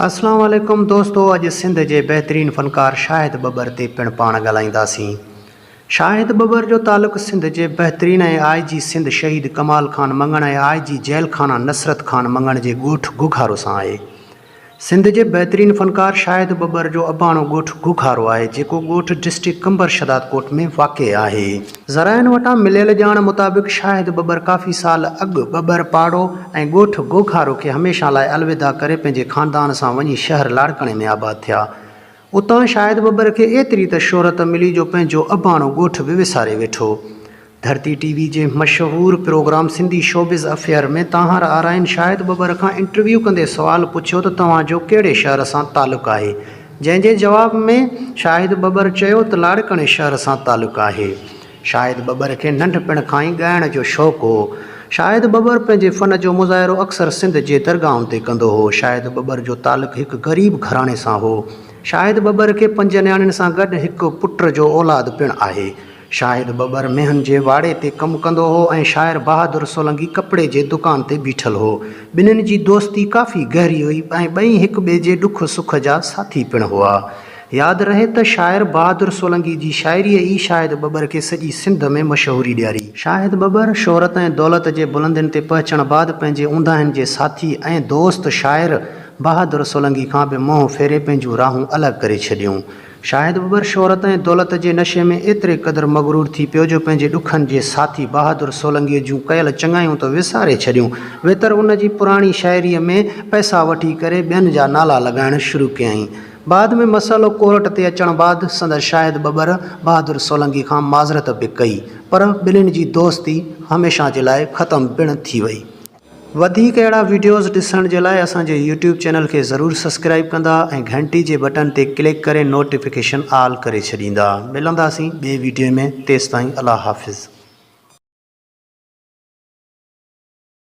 السلام عليڪم دوستو اڄ سنڌ جي بهترين فنڪار شاهد ٻٻر تي پڻ پاڻ ڳالهائينداسين شاهد ٻٻر جو تعلق سنڌ جي بهترين ۽ آء جي سنڌ شهيد ڪمال خان مڱڻ ۽ آء جي جيل خانه نصرت خان مڱڻ جي ڳوٺ گگهارو سان آهي سنڌ جي بهترين فنڪار شاهد ٻٻر جو اباڻو ڳوٺ گگهارو آهي جيڪو ڳوٺ ڊسٽرڪٽ قمبر شهدادڪوٽ ۾ واقع آهي. ذرائعن وٽان مليل ڄاڻ مطابق شاهد ٻٻر ڪافي سال اڳ ٻٻر پاڙو ۽ ڳوٺ گوگهارو کي هميشه لاء الوداع ڪري پنهنجي خاندان سان وڃي شهر لاڙڪاڻي ۾ آباد ٿيا. اتان شاهد ٻٻر کي ايتري ته شهرت ملي جو پنهنجو اباڻو ڳوٺ به وساري ويٺو. ڌرتي ٽي وي جي مشهور programme Sindhi showbiz affair ۾ Tanhar Arain Shahid Babbar کان انٽرويو ڪندي سوال پڇيو ته توهان جو ڪهڙي شهر سان تعلق آهي؟ جنهن جي جواب ۾ شاهد ٻٻر چيو ته لاڙڪاڻي شهر سان تعلق آهي. شاهد ٻٻر کي ننڍپڻ کان ئي ڳائڻ جو شوق هو. شاهد ٻٻر پنهنجي فن جو مظاهرو اڪثر سنڌ جي درگاهن تي ڪندو هو. شاهد ٻٻر جو تعلق هڪ غريب گهراڻي سان هو. شاهد ٻٻر کي پنج نياڻين سان گڏ هڪ پٽ جو اولاد پڻ آهي. شاهد ٻٻر مينهن جي واڙي تي ڪم ڪندو هو ۽ شاعر بهادر سولنگي ڪپڙي جي دڪان تي بيٺل هو. ٻنهين جي دوستي ڪافي گهري هئي ۽ ٻئي هڪ ٻئي جي ڏک سک جا ساٿي پڻ هئا. ياد رهي ته شاعر بهادر سولنگي جي شاعريء ئي شاهد ٻٻر کي سڄي سنڌ ۾ مشهوري ڏياري. شاهد ٻٻر شهرت ۽ دولت جي بلندين تي پهچڻ بعد پنهنجي اونداهين جي ساٿي ۽ دوست شاعر بهادر سولنگي کان به منهن ڦيري پنهنجون راهون الڳ ڪري ڇڏيون. شايد ٻٻر شهرت ۽ دولت جي نشي ۾ ايتري قدر مغرور ٿي پيو جو پنهنجي ڏکن جي ساٿي بهادر سولنگيء جون ڪيل چڱايون ته وساري ڇڏيون، ويتر ان جي پراڻي شاعريء ۾ پئسا وٺي ڪري ٻين جا نالا لڳائڻ شروع ڪيائين. بعد ۾ مسئلو ڪورٽ تي اچڻ بعد سندس شايد ٻٻر بهادر سولنگي کان معذرت به ڪئي، پر ٻنهين جي دوستي هميشه جي لاء ختم پڻ ٿي وئي. وڌيڪ اهڙا وڊيوز ڏسڻ جي لاء اسان جي يوٽيوب چينل کي ضرور سسڪرائب ڪندا ۽ گهنٽي جي بٽن تي ڪلڪ ڪري نوٽيفڪيشن آل ڪري ڇڏيندا ملنداسين ٻئي وڊيو ۾ تيستائين الله حافظ.